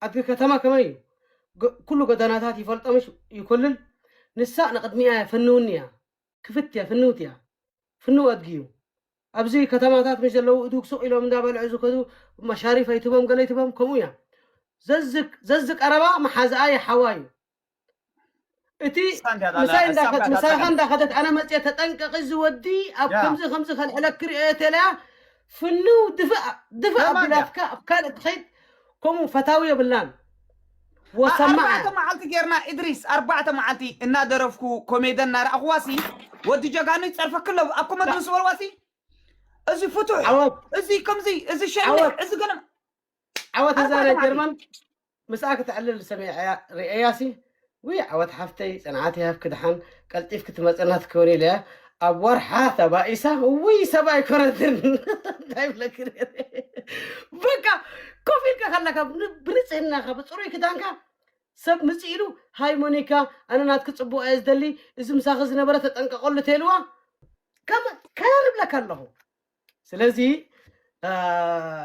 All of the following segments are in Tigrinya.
ኣድጊ ከተማ ከመይ እዩ ኩሉ ጎደናታት ይፈልጦ ምሽ ይኮልል ንሳ ንቅድሚኣ እያ ፍንውኒ እያ ክፍት እያ ፍንውቲ እያ ፍንው ኣድጊ እዩ ኣብዚ ከተማታት ምሽ ዘለዉ እዱግ ሱቅ ኢሎም እንዳበልዑ ዝከዱ መሻሪፍ ኣይትቦም ገለ ኣይትቦም ከምኡ እያ ዘዝ ዘዝ ቀረባ መሓዝኣ ይሓዋ እዩ እቲ ምሳይ እንዳኸድት ምሳኻ እንዳኸደት ኣነ መፅየ ተጠንቀቂ እዚ ወዲ ኣብ ከምዚ ከምዚ ከልዕለክ ሪኦዮ ተለያ ፍንው ድፍእ ድፍእ ኣቢላትካ ኣብ ካልእ ትኸይድ ከምኡ ፈታዊ የብልናን ወሰማዕ ኣርባዕተ መዓልቲ ጌርና እድሪስ ኣርባዕተ መዓልቲ እናደረፍኩ ኮሜደን እናረኣኹዋሲ ወዲ ጀጋኑ ይፀርፈክ ኣሎ ኣብ ኮመድ ምስ በልዋሲ እዚ ፍቱሕ ዓወት እዚ ከምዚ እዚ ሸልዕ ዓወት። እዚ ገለ ዓወት እዛ ናይ ጀርመን ምስኣ ክተዕልል ሰሚዐያ ርእያሲ ውይ ዓወት ሓፍተይ ፅንዓት ይሃብኪ ድሓን ቀልጢፍኪ ትመፀና ትከውን ኢለያ ኣብ ወርሓ ተባኢሳ ውይ ሰብ ኣይኮነትን እንታይ ብለኪ ነይረ በቃ ኮፍ ኢልካ ከለካ ብ- ብንፅህናኻ ብፅሩይ ክዳንካ ሰብ ምፅእ ኢሉ ሃይ ሞኒካ ኣነ ናትኪ ፅቡቕ እየ ዝደሊ እዚ ምሳኺ ዝነበረ ተጠንቀቐሉ ተልዋ ከም ከርብለካ ኣለኹ ስለዚ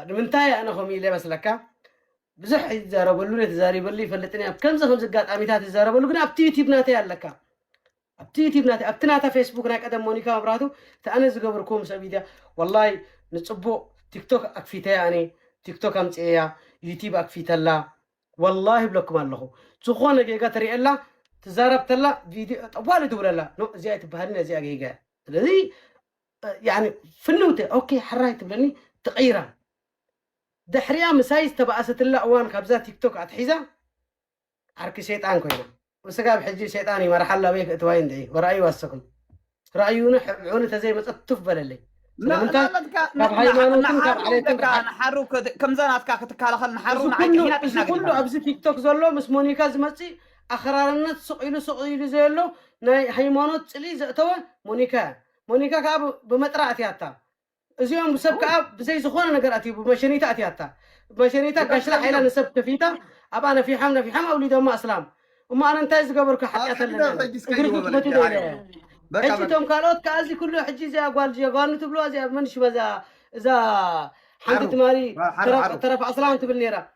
ንምንታይ ኣነ ከምኡ ኢለ መስለካ ብዙሕ ይዛረበሉ ተዛሪበሉ ይፈልጥን ኣብ ከምዚ ከምዚ ኣጋጣሚታት ይዛረበሉ ግን ኣብቲ ዩቲብ ናተይ ኣለካ ኣብቲ ዩቲብ ናተይ ኣብቲ ናታ ፌስቡክ ናይ ቀደም ሞኒካ መብራቱ እቲ ኣነ ዝገብርኩ ምስ ሚድያ ወላይ ንፅቡቅ ቲክቶክ ኣክፊተያ ኣነ ቲክቶክ ኣምፅኤያ ዩቲብ ኣክፊተላ ወላሂ ይብለኩም ኣለኹ ዝኾነ ጌጋ ትሪእየላ ትዛረብ ተላ ቪድዮ ጠዋሊ ትብለላ እዚኣ ትበሃልን እዚኣ ጌጋ ስለዚ ያኒ ፍንውቲ ኦኬ ሕራይ ትብለኒ ትቕይራ ድሕሪኣ ምሳይ ዝተባእሰትላ እዋን ካብዛ ቲክቶክ ኣትሒዛ ዓርኪ ሸይጣን ኮይና ንስጋብ ሕጂ ሸይጣን እዩ መርሓላ በይ ክእትዋይ እንደ ወራእዩ ኣሰኹም ራእዩን ሕብዑን ተዘይመፀት ቱፍ በለለይ ስለምንታይ ካብ ሃይማኖትን ካብ ዓሌትን ንሓሩ ከምዛ ናትካ ክትከላኸል ንሓሩ ንዓይ ጥሒና እዚ ጥሒና ኩሉ ግዲፋ ኣብዚ ቲክቶክ ዘሎ ምስ ሞኒካ ዝመፅእ ኣኽራርነት ስቕ ኢሉ ስቕ ኢሉ ዘየሎ ናይ ሃይማኖት ፅልኢ ዘእተወ ሞኒካ እያ ሞኒካ ከኣ ብ ብመጥራ ኣትያታ እዚኦም ብሰብ ከኣ ብዘይ ዝኾነ ነገር ኣትዩ ብመሸኒታ ኣትያታ ብመሸኒታ ጋሽላ ሓይላ ንሰብ ከፊታ ኣብኣ ነፊሖም ነፊሖም ኣውሊዶማ ኣስላም እሞ ኣነ እንታይ ዝገበርኩ ሓጢኣት ኣለኒ ኣነ እግርኪ ክፈቲ ዶ ኢለ እየ ሕጂ እቶም ካልኦት ከኣ እዚ ኩሉ ሕጂ እዚኣ ጓል ጀጋኑ ትብልዋ እዚኣ መን ሽማ እዛ እዛ ሓንቲ ትማሊ ተረፍ ኣስላም ትብል ነይራ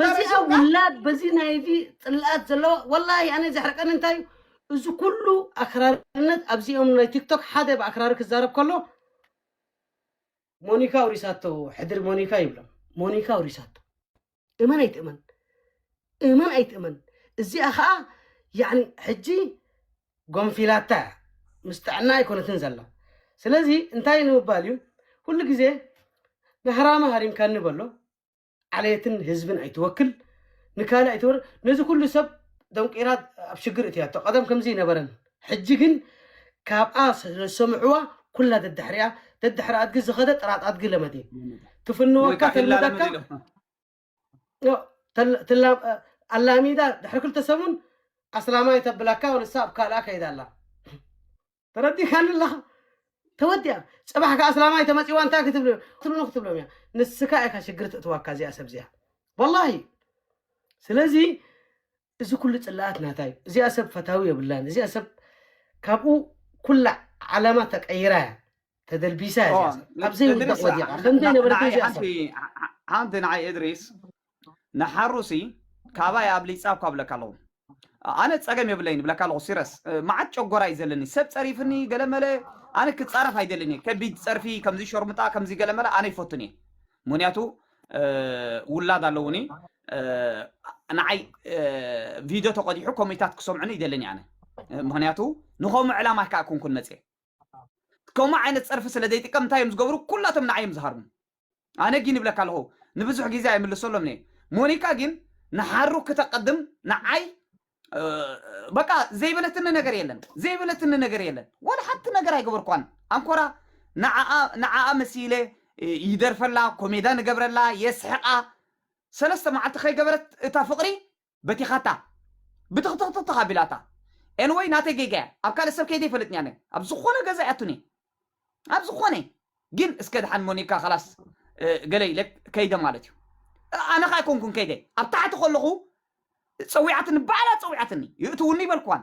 በዚ ኣብ ውላድ በዚ ናይዚ ጽልኣት ዘለዎ ወላሂ ኣነ ዘሕርቀኒ እንታይ እዩ እዚ ኩሉ ኣክራርነት ኣብዚኦም ናይ ቲክቶክ ሓደ ብኣክራሪ ክዛረብ ከሎ ሞኒካ ውሪሳቶ ሕድሪ ሞኒካ ይብሎም ሞኒካ ውሪሳቶ እመን ኣይትእመን እመን ኣይትእመን እዚኣ ከዓ ያኒ ሕጂ ጎንፊላታ እያ ምስ ጥዕና ኣይኮነትን ዘላ ስለዚ እንታይ ንምባል እዩ ኩሉ ግዜ ንሃራሚ ሃሪምካኒ በሎ ዓሌትን ህዝብን ኣይትወክል ንካልእ ኣይትወር ነዚ ኩሉ ሰብ ደንቂራ ኣብ ሽግር እትያቶ ቀደም ከምዚ ይነበረን ሕጂ ግን ካብኣ ስለዝሰምዕዋ ኩላ ደድሕሪኣ ደድሕሪ ኣድጊ ዝኸደ ጥራጥ ኣድጊ ለመዲ ትፍንወካ ተልምደካ ኣላሚዳ ድሕሪ ክልተ ሰሙን ኣስላማይ ተብላካ ንሳ ኣብ ካልኣ ከይዳ ኣላ ተረዲካኒ ኣለኻ ተወዲኣ ፅባሕ ከዓ ኣስላማይ ተመፂዋ እንታይ ክትብሎ ትብሉ ክትብሎም እያ ንስካ ኢካ ሽግር ትእትዋካ እዚኣ ሰብ እዚኣ ወላሂ ስለዚ እዚ ኩሉ ፅላኣት ናታ እዩ እዚኣ ሰብ ፈታዊ የብላን እዚኣ ሰብ ካብኡ ኩላ ዓለማ ተቀይራ እያ ተደልቢሳ እያ እዚኣ ሰብ ኣብ ዘይውዳቅ ወዲቃ ከምዘይ ነበረት እዚኣ ሰብ ሓንቲ ንዓይ እድሪስ ንሓሩሲ ካባይ ኣብሊጻ እኳ እብለካ ኣለኹ ኣነ ጸገም የብለይን እብለካ ኣለኹ ሲረስ መዓት ጨጎራ እዩ ዘለኒ ሰብ ጸሪፍኒ ገለመለ ኣነ ክጻረፍ ኣይደልን እየ ከቢድ ጸርፊ ከምዚ ሸርሙጣ ከምዚ ገለመለ ኣነ ይፈቱን እየ ምክንያቱ ውላድ ኣለውኒ ንዓይ ቪድዮ ተቆዲሑ ኮሚታት ክሰምዑኒ ይደልን ኣነ ምክንያቱ ንከምኡ ዕላማ ከዓ ኩንኩን መፅየ ከምኡ ዓይነት ፀርፊ ስለ ዘይጥቀም እንታይ እዮም ዝገብሩ ኩላቶም ንዓይ እዮም ዝሃርሙ ኣነ ጊን ይብለካ ኣለኹ ንብዙሕ ጊዜ ኣይምልሰሎምን እየ ሞኒካ ጊን ንሓሩ ክተቀድም ንዓይ በቃ ዘይበለትኒ ነገር የለን ዘይበለትኒ ነገር የለን ወላ ሓንቲ ነገር ኣይገበርኳን ኣንኮራ ንዓኣ መሲለ ይደርፈላ ኮሜዳ ንገብረላ የስሕቃ ሰለስተ መዓልቲ ከይገበረት እታ ፍቅሪ በቲኻታ ብትኽትኽትኽትኽ ኣቢላታ ኤንወይ ናተይ ጌጋ እያ ኣብ ካልእ ሰብ ከይደ ይፈልጥኒ ኣነ ኣብ ዝኾነ ገዛ እያ ቱኒ ኣብ ዝኾነ ግን እስከ ድሓን ሞኒካ ካላስ ገለ ኢለ ከይደ ማለት እዩ ኣነ ከዓ ኣይኮንኩን ከይደ ኣብ ታሕቲ ከለኹ ፀዊዓትኒ ባዕላ ፀዊዓትኒ ይእትውኒ ይበልክዋን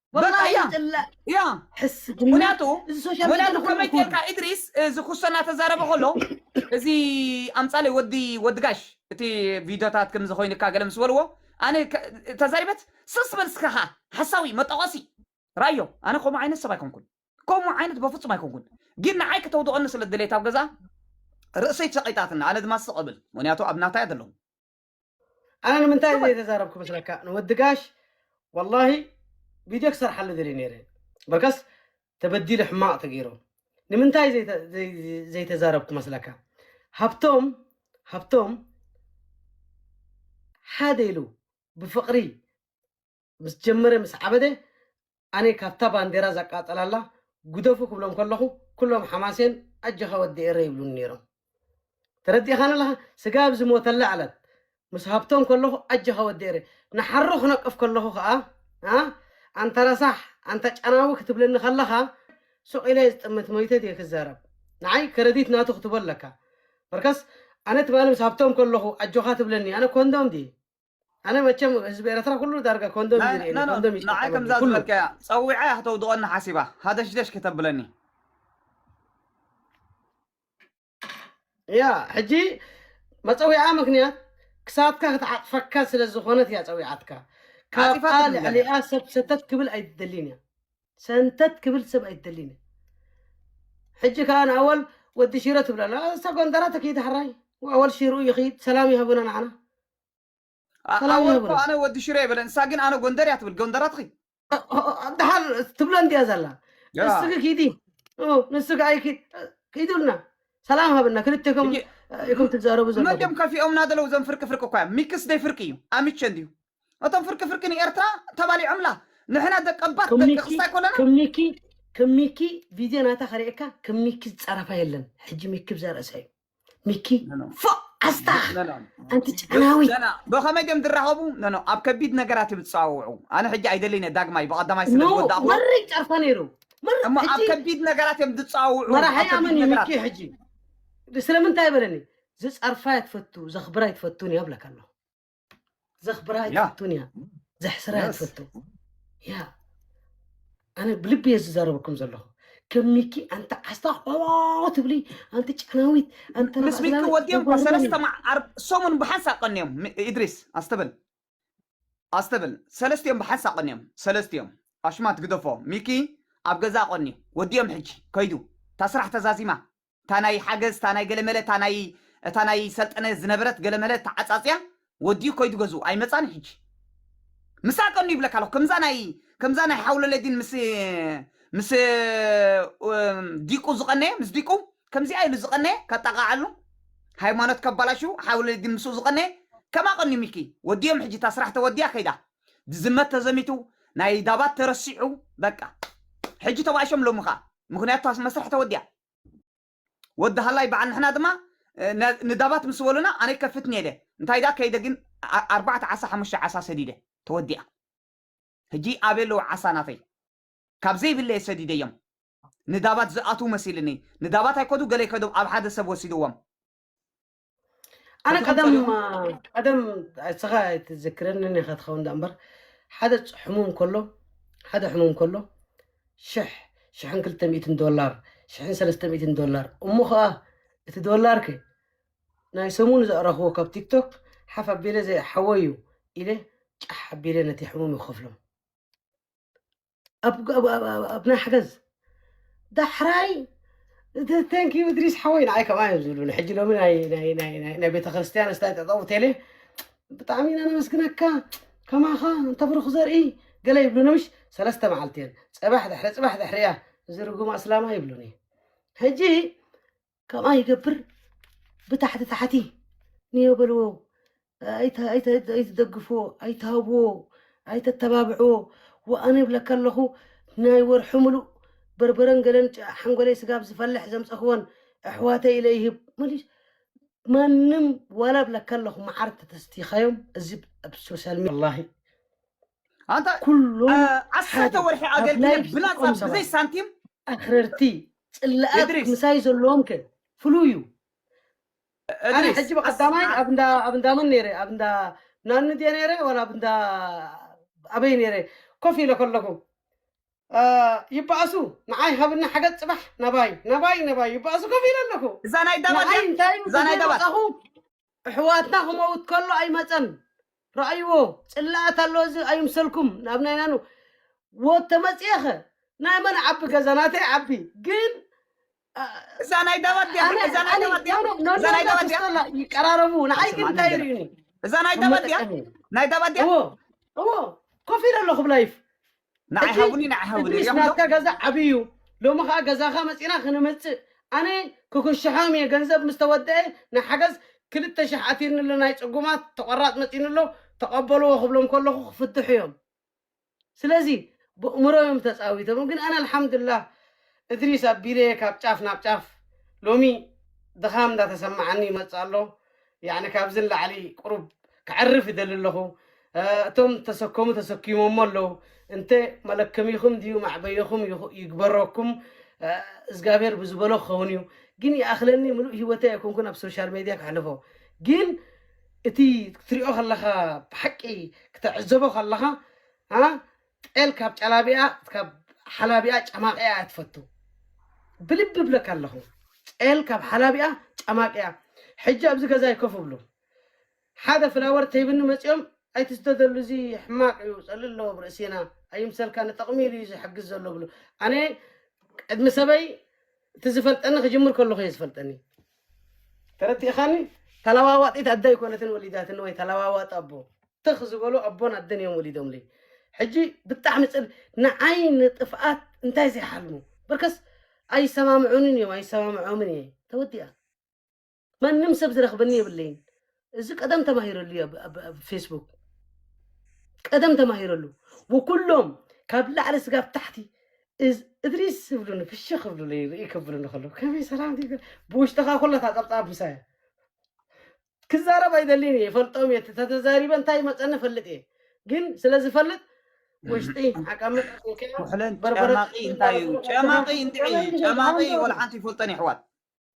በቃ እያ እያ ምክንያቱ ምክንያቱ ከመይ ጌርካ ኢድሪስ እዚ ኩሶ እናተዛረበ ከሎ እዚ ኣምፃለይ ወዲ ወዲ ጋሽ እቲ ቪድዮታት ከምዚ ኮይንካ ገለ ምስ በልዎ ኣነ ተዛሪበት ስስ በል እስካ ከዓ ሓሳዊ መጠቆሲ ራዮ ኣነ ከምኡ ዓይነት ሰብ ኣይኮንኩን ከምኡ ዓይነት በፍፁም ኣይኮንኩን ግን ንዓይ ክተውድቐኒ ስለ ድሌት ኣብ ገዛ ርእሰይ ሸቂጣትና ኣነ ድማ ስቕ እብል ምክንያቱ ኣብ ናታይ ዘለኹ ኣነ ንምንታይ እየ ዘይተዛረብኩ መስለካ ንወዲ ጋሽ ወላሂ ቪድዮ ክሰርሓሉ ደልየ ነይረ በከስ ተበዲሉ ሕማቕ ተገይሩ ንምንታይ ዘይተ- ዘይ- ዘይ- ዘይተዛረብኩ መስለካ ሃብቶም ሃብቶም ሓደ ኢሉ ብፍቕሪ ምስ ጀመረ ምስ ዓበደ ኣነ ካብታ ባንዴራ ዘቃጸላላ ጉደፉ ክብሎም ከለኹ ኩሎም ሓማሴን ኣጀኻ ወዲ ኤረይ ይብሉኒ ኔሮም ተረዲእኻኒ ኣለኻ ስጋብ ኣብ ዝሞተላ ዕለት ምስ ሃብቶም ከለኹ ኣጀኻ ወዲ ኤረይ ንሓሩ ክነቅፍ ከለኹ ከኣ ኣ ኣንታ ረሳሕ ኣንታ ጨናዊ ክትብለኒ ከለኻ ሱቕ ኢለ ዝጥምት ሞይተ ድየ ክዛረብ ንዓይ ከረዲት ናቱ ክትቦ ኣለካ በርከስ ኣነ ትማሊ ምስ ሃብቶም ከለኹ ኣጆኻ ትብለኒ ኣነ ኮንዶም ድየ ኣነ መቸም ህዝቢ ኤረትራ ኩሉ ዳርጋ ኮንዶም እዩ ዝርኤኒ ናይ ኮንዶም እዩ ንዓይ ዝጥቀመሉ ከምዛ ኩሉ ዝበልካያ ጸዊዓ እያ ከተውድቐኒ ሓሲባ ሃደሽደሽ ከተብለኒ እያ ሕጂ መጸዊዓ ምክንያት ክሳብካ ክትዓጽፈካ ስለ ዝኾነት እያ ጸዊዓትካ ካብኣ ዓጺፋትኒ ገለ ልዕሊኣ ሰብ ሰተት ክብል ኣይትደሊን እያ ሰንተት ክብል ሰብ ኣይትደሊን እያ ሕጂ ከዓ ንኣወል ወዲ ሽረ ትብለላ እሳ ጎንደራ ተክይድ ሓራይ ወኣወል ሽርኡ ይኽይድ ሰላም ይሃቡና ንዓና ኣ ሰላም ኣወል እኮ የብርህ ኣነ ወዲ ሽረ ይበለ ንሳ ግን ኣነ ጎንደር እያ ትብል ጎንደራት ኺ ድሓር ትብሎ እንድያ ዘላ ያ ንስኪ ኪዲ ኡ፣ ንስኪ ኣይኪድ ኪዱልና ሰላም ሃብና ክልቴኩም ሕጂ እ፣ ኢኩም ትዛረቡ መን ዘለኩም ድዮም ከፊኦምና ዘለዉ እዞም ፍርቂ ፍርቂ እኳ እዮም ሚክስ ደይ ፍርቂ እዩ ኣምቸ እንድዩ እቶም ፍርቂ ፍርቂ ንኤርትራ ተባሊዖምላ ንሕና ደቀባት ከም ደቂ ሚኪ ክስታይ ኮለና ከም ሚኪ ከም ሚኪ ቪድዮ ናታ ከርእየካ ከም ሚኪ ዝፀረፋ የለን ሕጂ ሚኪ ብዛ ርእሳ እዩ ሚኪ ፎ ዓስታኽ ኣንቲ ጨናዊ ብኸመይ ድም ዝራኸቡ ኖኖ ኣብ ከቢድ ነገራት እዮም ዝፀዋውዑ ኣነ ሕጂ ኣይደልይነ ዳግማይ ብቐዳማይ ስለ ዝወዳእኹ መሪ ጨርፈ ነይሩ እሞ ኣብ ከቢድ ነገራት እዮም ዝፀዋውዑ መራሒ ኣመን እዩ ሚኪ ሕጂ ስለምንታይ በለኒ ዝፀርፋ እያ ትፈቱ ዘኽብራ እትፈቱን እያ ብለካ ኣለኹ ዘኽብራ ኣይትፈቱን እያ ዘሕስራ እያ ትፈቱ ያ ኣነ ብልቢ እየ ዝዛረበኩም ዘለኹ ከም ሚኪ ኣንተ ዓስታ ትብሊ ኣንቲ ጨናዊት ኣንተ ምስ ሚኪ ወዲኦም እኳ ሰለስተ ሰሙን ብሓንሳ ቀንዮም ኢድሪስ ኣስተብል ኣስተብል ሰለስቲኦም ብሓንሳ ቀንዮም ሰለስቲኦም ኣሽማት ግደፎ ሚኪ ኣብ ገዛ ቀኒ ወዲኦም ሕጂ ከይዱ እታ ስራሕ ተዛዚማ እታ ናይ ሓገዝ እታ ናይ ገለ መለ እታ ናይ እታ ናይ ሰልጠነ ዝነበረት ገለ መለ ተዓጻጽያ ወዲኡ ከይዱ ገዝኡ ኣይመጻን ሕጂ ምሳኣ ቀኑ ይብለካ ኣለኹ ከምዛ ናይ ከምዛ ናይ ሓውለለዲን ምስ ምስ ዲቁ ዝቐነየ ምስ ዲቁ ከምዚኣ ኢሉ ዝቐነየ ከጣቓዓሉ ሃይማኖት ከባላሹ ሓውለለዲን ምስኡ ዝቐነየ ከማ ቀኑ ሚኪ ወዲኦም ሕጂ እታ ስራሕ ተወዲያ ከይዳ ዝዝመት ተዘሚቱ ናይ ዳባት ተረሲዑ በቃ ሕጂ ተባኢሾም ሎሚ ኸኣ ምክንያቱ እታ መስርሕ ተወዲኣ ወዲ ሃላይ በዓል ንሕና ድማ ንዳባት ምስ በሉና ኣነ ከፍት ነይደ እንታይ ዳ ከይደ ግን ኣርባዕተ ዓሳ ሓሙሽተ ዓሳ ሰዲደ ተወዲኣ ሕጂ ኣበይ ኣለዉ ዓሳ ናተይ ካብ ዘይብለ እየ ሰዲደዮም ንዳባት ዝኣትዉ መሲልኒ ንዳባት ኣይከዱ ገለ ይከዶም ኣብ ሓደ ሰብ ወሲድዎም ኣነ ቀደም ቀደም እስኻ ኣይትዘክረኒ ኒኻ ትኸውን ዳ እምበር ሓደ ሕሙም ከሎ ሓደ ሕሙም ከሎ ሽሕ ሽሕን ክልተ ሚእትን ዶላር ሽሕን ሰለስተ ሚእትን ዶላር እሞ ከዓ እቲ ዶላር ከ ናይ ሰሙን ዘዕረኽዎ ካብ ቲክቶክ ሓፍ ኣቢለ ዘይሓወዩ ኢለ ጫሕ ኣቢለ ነቲ ሕሙም ይኸፍሎም ኣብ ናይ ሓገዝ ዳሕራይ ቴንክ ዩ እድሪስ ሓወይ ንዓይ ከምኣ እዮም ዝብሉኒ ሕጂ ሎሚ ናይ ቤተ ክርስትያን ስታይ ጠጠው ቴለ ብጣዕሚ ኢና ነመስግነካ ከማኻ እንተብርኽ ዘርኢ ገለ ይብሉኒ ምሽ ሰለስተ መዓልቲ እየን ፅባሕ ድሕሪ ፅባሕ ድሕሪያ እዚ ርጉም ኣስላማ ይብሉኒ ሕጂ ከምኣ ይገብር ብታሕቲ ታሕቲ ንዮ በልዎ ኣይትደግፍዎ ኣይትሃብዎ ኣይተተባብዕዎ ወኣነ ይብለካ ኣለኹ ናይ ወርሒ ሙሉእ በርበረን ገለን ሓንጎለይ ስጋብ ዝፈልሕ ዘምፀኽወን ኣሕዋተይ ኢለ ይህብ መሊሽ ማንም ዋላ ብለካ ኣለኹ መዓር ተተስቲኻዮም እዚ ኣብ ሶሻል ሚዲያ ወላሂ ኣንታ ኩሎም ዓሰርተ ወርሒ ኣገልግለ ብናፃ ብዘይ ሳንቲም ኣኽረርቲ ጽላኣት እድሪስ ምሳይ ዘለዎም ከ ፍሉይ እዩ ኣነ እድሪስ ሕጂ ቀስ ብቀዳማይ ኣብ እንዳ ኣብ እንዳ መን ነይረ ኣብ እንዳ ናኒ ድየ ነይረ ዋላ ኣብ እንዳ ኣበይ ነይረ ኮፍ ኢለ ከለኹ አ፣ ይበኣሱ ንዓይ ሃብኒ ሓገዝ ፅባሕ ናባይ ናባይ ናባይ ይበኣሱ ኮፍ ኢለ ኣለኹ እዛ ናይ ዳባት ንዓይ ድያ እንታይ እዩ እዛ ናይ ተዘይ ዳባት ወፃኹ እሕዋትና ክመውት ከሎ ኣይመጸን ረኣይዎ ጽላኣት ኣሎ እዚ ኣይምሰልኩም ናብ ናይ ናኑ ወት ተመጽኤኸ ናይ መን ዓቢ ገዛ ናተይ ዓቢ ግን እዛ ናይ ዳባት ድያ ኣነ እዛ ናይ ኣነ ዳባት ድያ ኖኖ ኖኖ እዛ ናይ ዳባት ድያ ተስተላ ይቀራረቡ ንዓይ ግን ስምዓኒ እንታይ ገለ ይርእዩኒ እዛ ናይ ኣብ ዳባት ድያ መጠቀሚ ናይ ዳባት ድያ እዎ እዎ ኮፍ ኢለ ኣለኹ ብላይፍ ንዓይ እቲ ሃቡኒ ንዓይ ሃቡኒ እድሪስ ሪኦም ዶ ናትካ ገዛ ዓብይ እዩ ሎሚ ከኣ ገዛካ መጺና ክንመጽእ ኣነ ክክሽሖም እየ ገንዘብ ምስ ተወደኤ ንሓገዝ ክልተ ሽሕ ኣቲኒ ኣሎ ናይ ጽጉማት ተቆራጽ መጺኑ ኣሎ ተቀበልዎ ክብሎም ከለኩ ክፍትሑ እዮም ስለዚ በእምሮ እዮም ተጻዊቶም ግን ኣነ ኣልሓምዱላህ እድሪስ ኣቢለ ካብ ጫፍ ናብ ጫፍ ሎሚ ድኻም እንዳተሰማዓኒ ይመጽእ ኣሎ ያኒ ካብዚ ንላዕሊ ቁሩብ ከዕርፍ ይደሊ ኣለኹ እቶም ዝተሰከሙ ተሰኪሞሞ ኣለዉ እንተ መለከሚኹም ድዩ መዕበዮኹም ይግበረኩም እግዚኣብሔር ብዝበሎ ክኸውን እዩ ግን ይኣኽለኒ ምሉእ ሂወተይ ኣይኮንኩን ኣብ ሶሻል ሜድያ ከሕልፎ ግን እቲ ክትሪኦ ከለኻ ብሓቂ ክተዕዘቦ ከለኻ ጤል ካብ ጫላቢኣ ካብ ሓላቢኣ ጫማቂኣ እያ ትፈቱ ብልቢ እብለካ ኣለኹ ጤል ካብ ሓላቢኣ ጫማቂኣ ሕጂ ኣብዚ ገዛይ ኮፍ እብሉ ሓደ ፍላወር ተይብኒ መጺኦም ኣይትስደደሉ እዚ ሕማቅ እዩ ጸልእ ኣለዎ ኣብ ርእሲና ኣይምሰልካ ንጥቅሚ ኢሉ እዩ ዝሕግዝ ዘሎ እብሉ ኣነ ቅድሚ ሰበይ እቲ ዝፈልጠኒ ክጅምር ከለኹ እየ ዝፈልጠኒ ተረዲእኻኒ ተለዋዋጢት ኣደ ኣይኮነትን ወሊዳትኒ ወይ ተለዋዋጢ ኣቦ ትኽ ዝበሉ ኣቦን ኣደን እዮም ወሊዶምለይ ሕጂ ብጣዕሚ ፅል ንዓይ ንጥፍኣት እንታይ ዘይሓልሙ በርከስ ኣይሰማምዑንን እዮም ኣይሰማምዖምን እየ ተወዲኣ ማንም ሰብ ዝረኽበኒ የብለይን እዚ ቀደም ተማሂረሉ እዩ ኣብ- ኣብ- ኣብ ፌስቡክ ቀደም ተማሂረሉ ወኩሎም ካብ ላዕሊ ስጋብ ታሕቲ እዝ- እድሪስ ዝብሉኒ ፍሽ ክብሉለይ ርኢ ክብሉኒ ከለዉ ከመይ ሰላም ዲጋ ብውሽጥኻ ኩላ እታ ፀብፃብ ምሳይ እያ። ክዛረብ ኣይደልን እየ ይፈልጦም እየ ተተዛሪበ እንታይ ይመፀኒ ፈልጥ እየ ግን ስለ ዝፈልጥ ውሽጢ ዓቃመት ኣቢልካዮ ኩሕለን በርበረ ጨማቂ እንታይ እዩ ጨማቂ እንታይ እዩ ጨማቂ ወላ ሓንቲ ይፈልጠን የሕዋት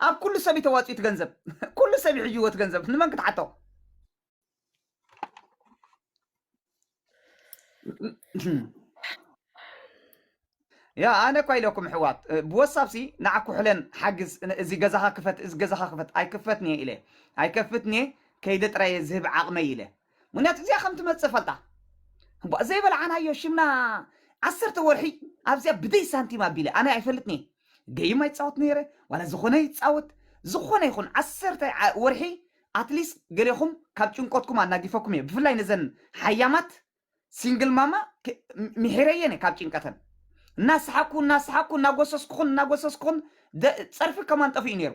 ኣብ ኩሉ ሰብ እዩ ተዋጺኡ እቲ ገንዘብ ኩሉ ሰብ ይሕይዎ እቲ ገንዘብ ንመን ክትሓቶ ያ ኣነ እኳ ኢለኩም ኣሕዋት እ፣ ብወሳብሲ ንዓኩ ሕለን ሓግዝ ን- እዚ ገዛኻ ክፈት እዚ ገዛኻ ክፈት ኣይክፈትንየ ኢለ ኣይከፍትንየ ከይደ ጥራየ ዝህብ ዓቕመይ ኢለ ምክንያቱ እዚኣ ከም ትመጽእ ፈልጣ እባ ዘይበልዓናዮ ሽምና ዓሰርተ ወርሒ ኣብዚኣ ብደይ ሳንቲም ኣቢለ ኣነ ኣይፈልጥን እየ ገይም ኣይጻወት ነይረ ዋላ ዝኾነ ይጻወት ዝኾነ ይኹን ዓሰርተ ወርሒ ኣትሊስት ገሌኹም ካብ ጭንቆትኩም ኣናጊፈኩም እየ ብፍላይ ነዘን ሓያማት ሲንግል ማማ ምሒረየን እየ ካብ ጭንቀተን እናሰሓኩ እናሰሓኩ እናጎሰስኩኹን እናጎሰስኩኹን ጸርፊ ከማን ጠፊኡ ነይሩ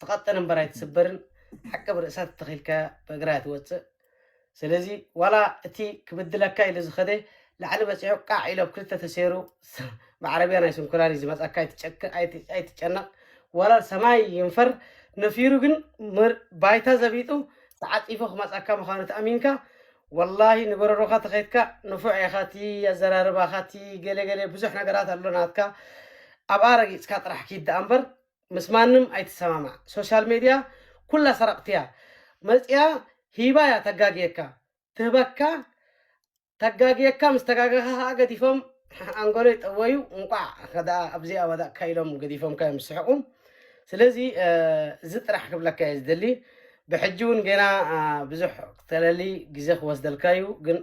ትቐጥን እምበር ኣይትስበርን ሓቂ ብርእሳ ተተኺልካ ብእግራ ትወፅእ ስለዚ ዋላ እቲ ክብድለካ ኢሉ ዝኸደ ላዕሊ በፂሑ ቃዕ ኢሎ ብ ክልተ ተሰይሩ ብዓረብያ ናይ ስንኩላን እዩ ዝመፃካ ኣይትጨክ ኣይቲ- ኣይትጨነቕ ዋላ ሰማይ ይንፈር ነፊሩ ግን ምር- ባይታ ዘቢጡ ተዓፂፎ ክመፃካ ምዃኑ ተኣሚንካ ወላሂ ንበረሮኻ ተኸይትካ ንፉዕ ኢኻ እቲ ኣዘራርባኻ እቲ ገለ ገለ ብዙሕ ነገራት ኣሎ ናትካ ኣብኣ ረጊጽካ ጥራሕ ኪድ ደኣ እምበር ምስ ማንም ኣይትሰማማዕ ሶሻል ሜድያ ኩላ ሰረቕቲ እያ መጽያ ሂባ እያ ተጋግየካ ትህበካ ተጋግየካ ምስ ተጋገኻ ከኣ ገዲፎም ኣንጎለይ ጠወዩ እንቋዕ ከደኣ ኣብዚ ኣወዳእካ ኢሎም ገዲፎምካ እዮም ዝስሕቁ ስለዚ እዚ ጥራሕ ክብለካ እየ ዝደሊ ብሕጂ እውን ገና ብዙሕ ክተለሊ ግዜ ክወስደልካ እዩ ግን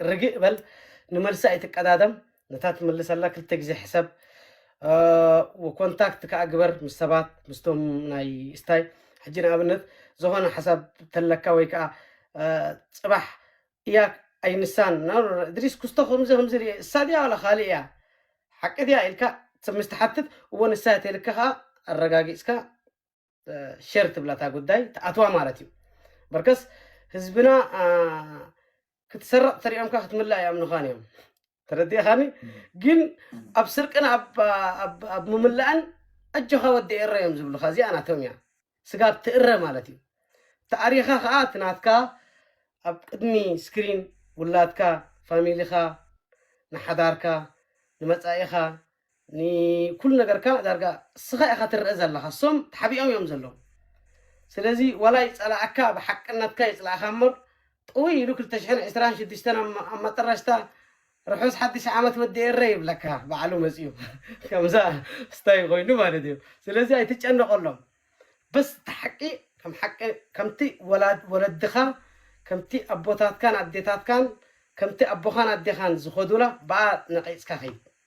ርግእ በል ንመልሲ ኣይትቀዳደም ነታ ትምልሰላ ክልተ ግዜ ሕሰብ ኮንታክት ከዓ ግበር ምስ ሰባት ምስቶም ናይ ስታይ ሕጂ ንኣብነት ዝኾነ ሓሳብ ተለካ ወይ ከዓ ፅባሕ ያክ ኣይ ንሳን ኖርኖ እድሪስ ኩስቶ ከምዚ ከምዚ ሪኤ እሳ ድያ ዋላ ካልእ እያ ሓቂ ድያ ኢልካ ሰብ ምስ ትሓትት እወ ንሳ እያ ተልካ ከኣ ኣረጋጊጽካ ሸር ትብላ እታ ጉዳይ ትኣትዋ ማለት እዩ በርከስ ህዝብና ክትሰረቕ ተሪኦምካ ክትምላእ ይኣምኑኻን እዮም ተረዲእኻኒ ግን ኣብ ስርቅን ኣብ ኣብ ኣብ ምምላእን ኣጆኻ ወዲ ኤረ እዮም ዝብሉኻ እዚኣ ናቶም እያ ስጋብ ትእረ ማለት እዩ ተኣሪኻ ከዓ እቲ ናትካ ኣብ ቅድሚ ስክሪን ውላድካ ፋሚሊኻ ንሓዳርካ ንመፃኢኻ ንኩሉ ነገርካ ዳርጋ እስኻ ኢኻ ትረኣ ዘለኻ እሶም ተሓቢኦም እዮም ዘለዉ ስለዚ ዋላ ይጸላኣካ ብሓቅነትካ ይጽላእኻ እምበር ጥውይ ኢሉ ክልተ ሽሕን ዕስራን ሽዱሽተን ኣብ መጠረሽታ ርሑስ ሓድሽ ዓመት ወዲ ኤረ ይብለካ ባዕሉ መጺኡ ከምዛ ስታይ ኮይኑ ማለት እዩ ስለዚ ኣይትጨነቀሎም በስ እቲ ሓቂ ከም ሓቂ ከምቲ ወለድኻ ከምቲ ኣቦታትካን ኣዴታትካን ከምቲ ኣቦኻን ኣዴኻን ዝኸዱላ ብኣ ነቂጽካ ከይድ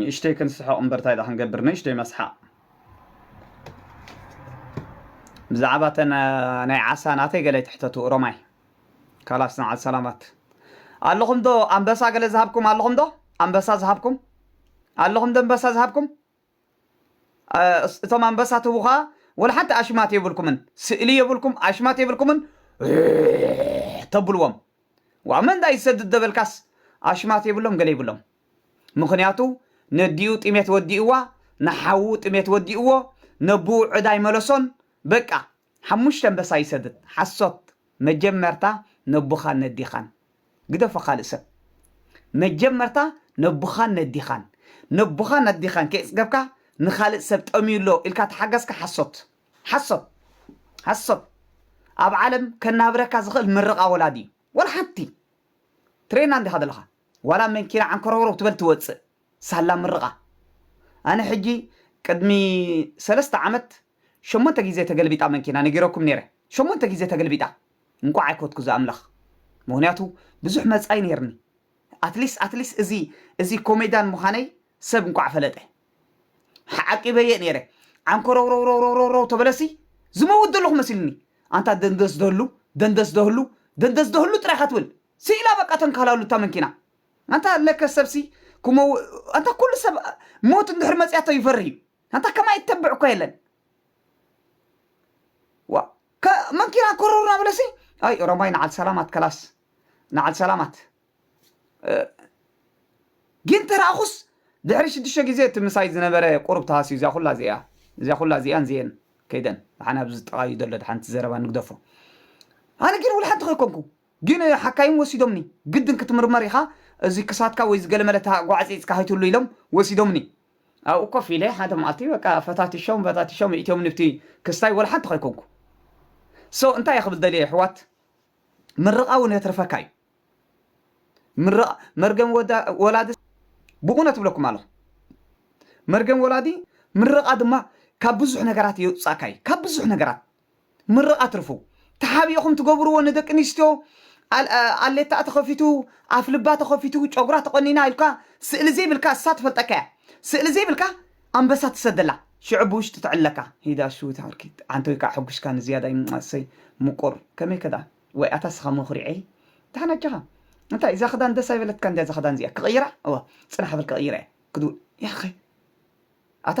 ንእሽተይ ክንስሕቕ እምበር ታይ ድኣ ክንገብር ንእሽተይ መስሓቕ። ብዛዕባ እተን ናይ ዓሳ ናተይ ገለ ኣይትሕተቱ ኦሮማይ። ካላስ ንዓል ሰላማት። ኣለኹም ዶ ኣንበሳ ገለ ዝሃብኩም ኣለኹም ዶ ኣንበሳ ዝሃብኩም ኣለኹም ዶ ኣንበሳ ዝሃብኩም እቶም ኣንበሳ ትህቡ ከኣ ወላ ሓንቲ ኣሽማት የብልኩምን ስእሊ የብልኩም ኣሽማት የብልኩምን ተብልዎም ዋመንዳ ይሰድድ ደበልካስ ኣሽማት የብሎም ገለ ይብሎም ምኽንያቱ ነዲኡ ጥሜት ወዲእዋ ንሓዉ ጥሜት ወዲእዎ ነቡኡ ዕዳ ኣይመለሶን በቃ ሓሙሽተ ኣንበሳ ይሰድድ ሓሶት መጀመርታ ነቡኻን ነዲኻን ግደፎ ካልእ ሰብ መጀመርታ ነቡኻን ነዲኻን ነቡኻን ነዲኻን ከይጽገብካ ንኻልእ ሰብ ጠምዩ ኣሎ ኢልካ ተሓገዝካ ሓሶት ሓሶት ሓሶት ኣብ ዓለም ከናብረካ ዝኽእል ምርቓ ወላዲ እዩ ወላ ሓንቲ ትሬና እንዲኻ ዘለኻ ዋላ መንኪና ዓንኮሮርው ትበል ትወጽእ ሳላ ምርቓ ኣነ ሕጂ ቅድሚ ሰለስተ ዓመት ሸሞንተ ግዜ ተገልቢጣ መንኪና ነጊረኩም ኔረ ሸሞንተ ግዜ ተገልቢጣ እንቋዕ ኣይኮትኩ ዝኣምላኽ ምኽንያቱ ብዙሕ መጻኢ ኔርኒ ኣትሊስ ኣትሊስ እዚ እዚ ኮሜዳን ምኻነይ ሰብ እንቋዕ ፈለጠ ሓዓቂበዬ ኔረ ዓንኮሮውሮውሮውሮውሮው ተበለሲ ዝመውት ዘለኹ መሲልኒ ኣንታ ደንደስ ደህሉ ደንደስ ደህሉ ደንደስ ደህሉ ጥራይኻ ትብል ሲኢላ በቃ ተንካላሉ እታ መንኪና ኣንታ ለከ ሰብሲ ክመው ኣንታ ኩሉ ሰብ ሞት እንድሕር መጽያቶ ይፈርህ እዩ ኣንታ ከማይ እተብዕ እኳ የለን ዋ ከ መንኪና ኮረሩ ናበለሲ ኣይ ኦሮማይ ንዓል ሰላማት ከላስ ንዓል ሰላማት ግን ተራእኹስ ድሕሪ ሽዱሽተ ግዜ እቲ ምሳይ ዝነበረ ቁሩብ ተሃስዩ እዚኣ ኩላ እዚኣ እዚኣ ኩላ እዚኣን እዚኤን ከይደን ብሓን ኣብዚ ዝጠቓዩ ዘሎ ሓንቲ ዘረባ ንግደፎ ኣነ ግን ውልሓንቲ ከይኮንኩ ግን ሓካይም ወሲዶምኒ ግድን ክትምርመር ኢኻ እዚ ክሳድካ ወይ ዝገለመለ እታ ጓዕጺጽካ ከይትህሉ ኢሎም ወሲዶምኒ። ኣብኡ ኮፍ ኢለ ሓደ መዓልቲ በቃ ፈታቲሾም ፈታቲሾም የእቲዮምኒ ኣብቲ ክስታይ ወላ ሓንቲ ከይኮንኩ so እንታይ እየ ክብል ደልየ የሕዋት ምርቓ እውን የትርፈካ እዩ ምርቓ መርገም ወላዲ ብእውነት እብለኩም ኣለኹ መርገም ወላዲ ምርቓ ድማ ካብ ብዙሕ ነገራት የውጽኣካ እዩ ካብ ብዙሕ ነገራት ምርቓ ትርፉ ተሓቢእኹም ትገብርዎ ንደቂ ኣንስትዮ ኣሌታኣ ተኸፊቱ ኣፍልባ ተኸፊቱ ጨጉራ ተቖኒና ኢልካ ስእሊ ዘይብልካ እሳ ትፈልጠካ እያ ስእሊ ዘይብልካ ኣንበሳ ትሰደላ ሽዑ ብውሽጢ ትዕለካ ሂዳ ሽው ትሃርኪ ዓንተይ ካኣ ሐጉሽካ ንዝያዳ ኣሰይ ሙቁር ከመይከ ዳኣ ዋይ ኣታ ስኻ መኹሪዐይ ዳሕና ኣጆኻ እንታይ እዛ ክዳን ደስ ኣይበለትካን ድያ እዛ ክዳን እዚኣ ክቕይራ እወ ጽናሕ በል ክቕይራ እየ ክድው ያኸይ ኣታ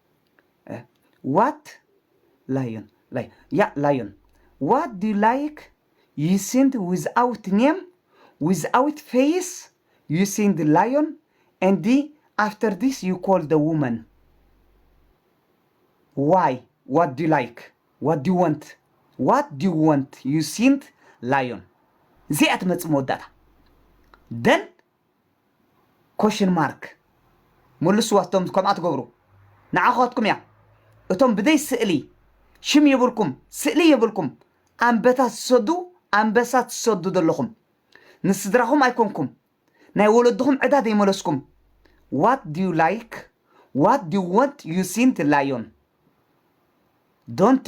ዋት ላዮን ላይ ያእ ላዮን ዋት ዱ ዩ ላይክ ዩ ሲንድ ዊዝ ኣውት ኔም ዊዝ ኣውት ፌይስ ዩ ሲንድ ላዮን ኤንድ ኣፍተር ዚስ ዩ ኮል ዘ ውመን ዋይ ዋት ዱ ዩ ላይክ ዋት ዱ ዩ ወንት ዋት ዱ ዩ ወንት ዩ ሲንድ ላዮን እዚኣ ትመፅእ መወዳእታ ደን ኮሽን ማርክ መልስዋ እቶም ከምኣ ትገብሩ ንዓኻትኩም እያ እቶም ብዘይ ስእሊ ሽም የብልኩም ስእሊ የብልኩም ኣንበታት ዝሰዱ ኣንበሳ ትሰዱ ዘለኹም ንስድራኹም ኣይኮንኩም ናይ ወለድኹም ዕዳ ዘይመለስኩም ዋት ዲዩ ላይክ ዋት ዲዩ ወንት ዩ ሲንት ላዮን ዶንቲ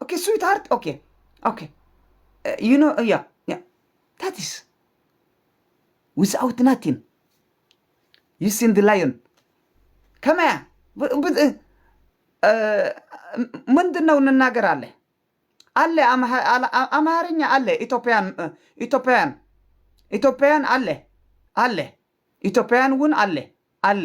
ኦኬ ስዊት ሃርት ኦኬ ኦኬ ዩ ኖ ያ ያ ታትስ ዊዝኣውት ናቲን ዩ ሲን ዲ ላዮን ከመይ እያ ብ- ብ- እ- ምንድን ነው እንናገር አለ አለ አምሃ- አላ- አ- አማርኛ አለ ኢትዮጵያን እ፣ ኢትዮጵያን ኢትዮጵያን አለ አለ ኢትዮጵያን እውን አለ አለ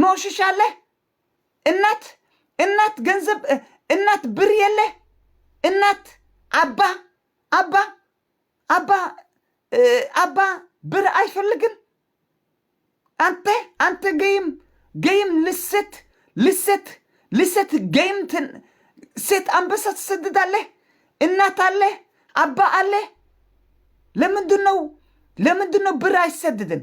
ኖ ሽሻ ኣለ እናት እናት ገንዘብ እናት ብር የለ እናት ኣባ ኣባ ኣባ ኣባ ብር ኣይፈልግን ኣንተ ኣንተ ገይም ገይም ልሰት ልሰት ልሰት ገይም ሴት ኣንበሳ ትሰድዳለህ እናት ኣለ ኣባ ኣለ ለምንድን ነው ለምንድን ነው ብር አይሰድድም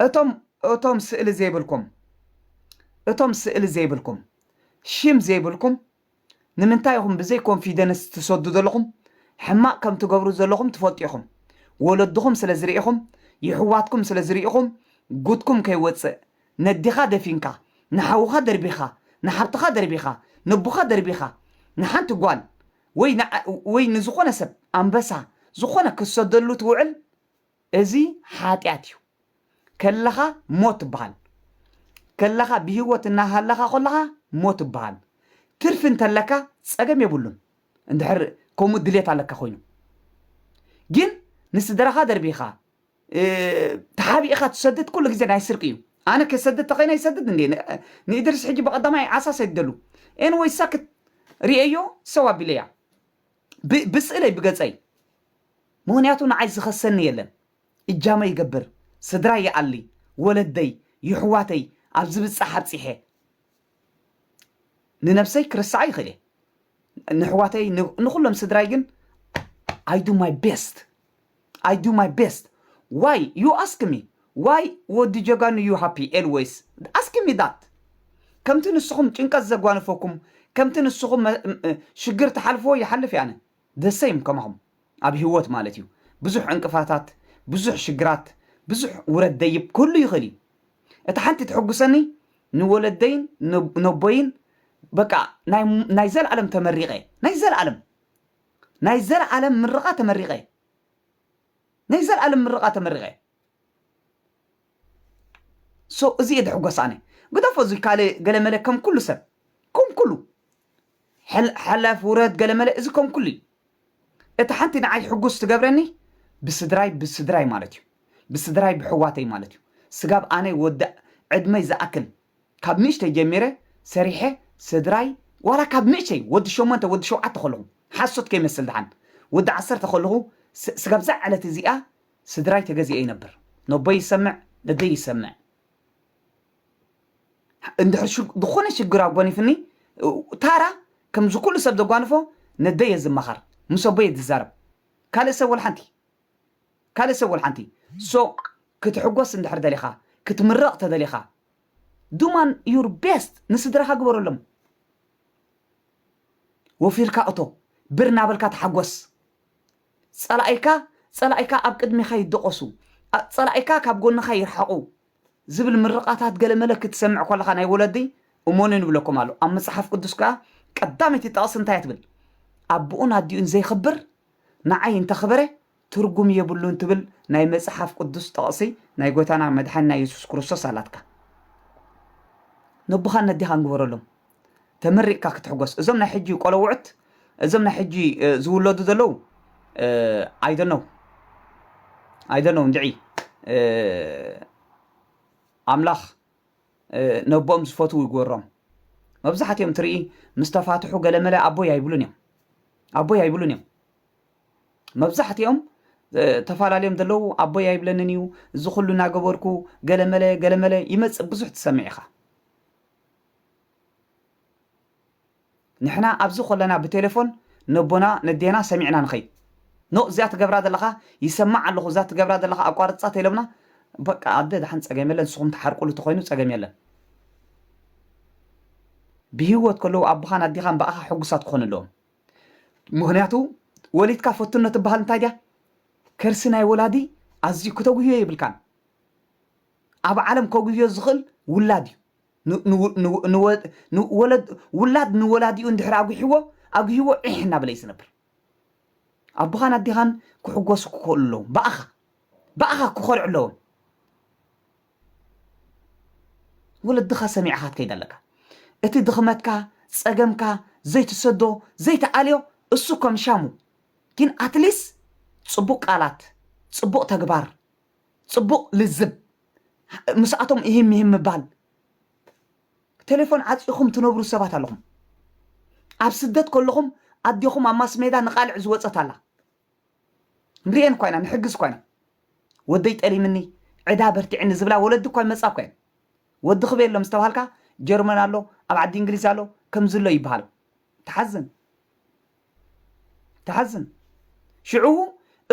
እቶም እቶም ስእሊ ዘይብልኩም እቶም ስእሊ ዘይብልኩም ሽም ዘይብልኩም ንምንታይ ኢኹም ብዘይ ኮንፊደንስ ትሰዱ ዘለኹም? ሕማቕ ከም ትገብሩ ዘለኹም ትፈልጡ ኢኹም። ወለድኹም ስለ ዝርኢኹም ይሕዋትኩም ስለ ዝርኢኹም ጉድኩም ከይወፅእ ነዲኻ ደፊንካ ንሓውኻ ደርቢኻ ንሓብትኻ ደርቢኻ ነቦኻ ደርቢኻ ንሓንቲ ጓል ወይ ንዓ ወይ ንዝኾነ ሰብ ኣንበሳ ዝኾነ ክትሰደሉ ትውዕል እዚ ሓጥያት እዩ ከለኻ ሞት ትብሃል ከለኻ ብሂወት እናሃለኻ ኮለኻ ሞት ትብሃል ትርፊ እንተለካ ጸገም የብሉን እንድሕር ከምኡ ድሌት ኣለካ ኮይኑ ግን ንስድራኻ ደርቢኻ ተሓቢእኻ ትሰድድ ኩሉ ግዜ ናይ ስርቂ እዩ ኣነ ከሰድድ ተኸይነ ይሰድድ እንዴ ንእድሪስ ሕጂ በቐዳማይ ዓሳ ሰድደሉ ኤንወይ ሳክት ሪኤዮ ሰው ኣቢለያ ብ ብስእለይ ብገጸይ ምኽንያቱ ንዓይ ዝኸሰኒ የለን እጃመይ ይገብር ስድራይ ይኣሊ ወለደይ ይሕዋተይ ኣብ ዝብጻሕ ኣብጺሐ ንነብሰይ ክርስዓ ይኽእል እየ ንሕዋተይ ንኩሎም ስድራይ ግን ኣይ ዱ ማይ ቤስት ኣይ ዱ ማይ ቤስት ዋይ ዩ ኣስክ ሚ ዋይ ወዲ ጀጋኑ ዩ ሃፒ ኤልወይስ ኣስክ ሚ ዳት ከምቲ ንስኹም ጭንቀት ዘጓንፈኩም ከምቲ ንስኹም ሽግር ትሓልፍዎ ይሓልፍ እየ ኣነ the same ከማኹም ኣብ ሂወት ማለት እዩ ብዙሕ ዕንቅፋታት ብዙሕ ሽግራት ብዙሕ ውረድ ደይብ ክህሉ ይኽእል እዩ እታ ሓንቲ ተሕጉሰኒ ንወለደይን ነቦይን በቃ ናይ ዘልኣለም ተመሪቐ ናይ ዘልኣለም ናይ ዘልኣለም ምርቓ ተመሪቐ ናይ ዘልኣለም ምርቓ ተመሪቐ so እዚ እየ ድሕጎስ ኣነ ግደፎ እዚ ካልእ ገለመለ ከም ኩሉ ሰብ ከም ኩሉ ሕል- ሓላፍ ውረድ ገለመለ እዚ ከም ኩሉ እዩ እቲ ሓንቲ ንዓይ ሕጉስ ትገብረኒ ብስድራይ ብስድራይ ማለት እዩ ብስድራይ ብሕዋተይ ማለት እዩ ስጋብ ኣነ ወዲ ዕድመይ ዝኣክል ካብ ንእሽተይ ጀሚረ ሰሪሐ ስድራይ ዋላ ካብ ንእሸይ ወዲ ሸሞንተ ወዲ ሸውዓተ ከለኹ ሓሶት ከይመስል ድሓን ወዲ ዓሰርተ ከለኹ ስ- ስጋብ እዛ ዕለት እዚኣ ስድራይ ተገዚኤ ይነብር ነቦይ ይሰምዕ ነደይ ይሰምዕ እንድሕር ዝኾነ ሽግር ኣጎኒፍኒ ታራ ከምዚ ኩሉ ሰብ ዘጓንፎ ነደይ እየ ዝማኻር ምስ ኣቦይ እየ ዝዛረብ ካልእ ሰብ ወልሓንቲ ካልእ ሰብ ወልሓንቲ ሶ ክትሕጎስ እንድሕር ደሊኻ ክትምረቕ ተደሊኻ ዱማን ዩር ቤስት ንስድራኻ ግበረሎም ወፊርካ እቶ ብር እናበልካ ተሓጎስ ጸላኢካ ጸላኢካ ኣብ ቅድሜኻ ይደቖሱ፣ ጸላኢካ ካብ ጎንኻ ይርሓቑ ዝብል ምርቓታት ገለመለ ክትሰምዕ ኮለኻ ናይ ወለዲ እሞኑን ይብለኩም ኣሎ። ኣብ መጽሓፍ ቅዱስ ከኣ ቀዳመይቲ ጥቕሲ እንታይ እያ ትብል? ኣቡኡን ኣዲኡን ዘይኽብር ንዓይ እንተኽበረ ትርጉም የብሉን ትብል ናይ መጽሓፍ ቅዱስ ጥቕሲ ናይ ጎይታና መድሓኒና የሱስ ክርስቶስ ኣላትካ። ነቦኻን ነዴኻን ግበረሎም። ተመሪቕካ ክትሕጎስ እዞም ናይ ሕጂ ቆለውዕት እዞም ናይ ሕጂ ዝውለዱ ዘለው ኣይደነው ኣይደነው እንድዒ ኣምላኽ ነቦኦም ዝፈትው ይግበሮም መብዛሕትኦም ትርኢ ምስ ተፋትሑ ገለመለ ኣቦይ ኣይብሉን እዮም ኣቦይ ኣይብሉን እዮም መብዛሕትኦም ተፈላለዮም ዘለዉ ኣቦይ ኣይብለንን እዩ እዚ ኩሉ እናገበርኩ ገለመለ ገለመለ ይመፅእ ብዙሕ ትሰምዕ ኢኻ ንሕና ኣብዚ ኮለና ብቴለፎን ነቦና ነዴና ሰሚዕና ንኸይድ ኖእ እዚኣ ትገብራ ዘለኻ ይሰማዕ ኣለኹ እዛ ትገብራ ዘለኻ ኣቋርጻ ተኢሎምና በቃ ኣደ ደሓን ጸገም የለን ንስኹም ትሓርቁሉ ተኾይኑ ጸገም የለን ብሂወት ከለዉ ኣቦኻን ኣዴኻን ብኣኻ ሕጉሳት ክኾኑ ኣለዎም ምክንያቱ ወሊድካ ፈትኖ ትበሃል እንታይ ድያ ከርሲ ናይ ወላዲ ኣዝዩ ክተጉህዮ ይብልካን ኣብ ዓለም ከጉህዮ ዝኽእል ውላድ እዩ ውላድ ንወላዲኡ እንድሕር ኣጒሕዎ ኣጒህዎ ዒሕ እናበለ እዩ ዝነብር። ኣቦኻን ኣዴኻን ክሕጎሱ ክኸእሉ ኣለዎም። ብኣኻ ብኣኻ ክኸርዑ ኣለዎም። ወለድኻ ሰሚዕኻ ትከይድ ኣለካ። እቲ ድኽመትካ ጸገምካ ዘይትሰዶ ዘይትኣልዮ እሱ ከም ሻሙ ግን ኣትሊስ ጽቡቕ ቃላት ጽቡቕ ተግባር ጽቡቕ ልዝብ ምስኣቶም እሂም ምሂም ምባል ቴሌፎን ዓጺኹም ትነብሩ ሰባት ኣለኹም ኣብ ስደት ከለኹም ኣዴኹም ኣብ ማስሜዳ ንቓልዕ ዝወጸት ኣላ ንርእየን እኳ ኢና ንሕግዝ እኳ ኢና ወደይ ጠሊምኒ ዕዳ በርቲዕኒ ዝብላ ወለዲ እኳ ይመጻ እኳ እየን ወዲ ክበየሎም ዝተባሃልካ ጀርመን ኣሎ ኣብ ዓዲ እንግሊዝ ኣሎ ከምዝሎ ይበሃል ተሓዝን ትሓዝን ሽዑ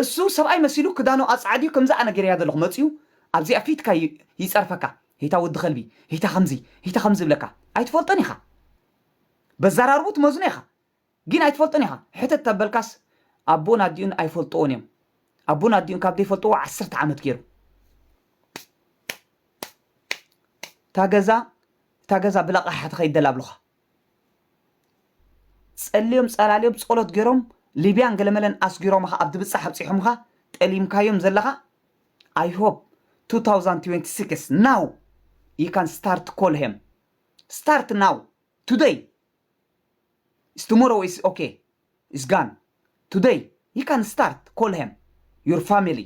እሱ ሰብኣይ መሲሉ ክዳኑ ኣጻዕድዩ ከምዚ ኣነ ገሬያ ዘለኹ መጽዩ ኣብዚ ኣብ ፊትካ ይጸርፈካ ሂታ ወዲ ከልቢ ሂታ ከምዚ ሂታ ከምዚ ይብለካ ኣይትፈልጦን ኢኻ በዛራርቡ ትመዝኖ ኢኻ ጊን ኣይትፈልጦን ኢኻ ሕተት ተበልካስ ኣቦን ኣዲኡን ኣይፈልጥዎን እዮም ኣቦን ኣዲኡን ካብ ዘይፈልጥዎ ዓሰርተ ዓመት ገይሩ ታገዛ ታገዛ ብለቃሓ ተኸይደላ ኣብልኻ ጸልዮም ጸላልዮም ጸሎት ገሮም ሊብያን ገለመለን ኣስጊሮምኻ ኣብ ድብጻሕ ኣብጺሖምኻ ጠሊምካዮም ዘለኻ ኣይ ሆፕ ቱ ታውዛንድ ትዌንቲ ሲክስ ናው ዩ ካን ስታርት ኮል ሄም ስታርት ናው ቱደይ ኢስ ቱሞሮው ኢስ ኦኬ ኢስ ጋን ቱደይ ዩ ካን ስታርት ኮል ሄም ዩር ፋሚሊ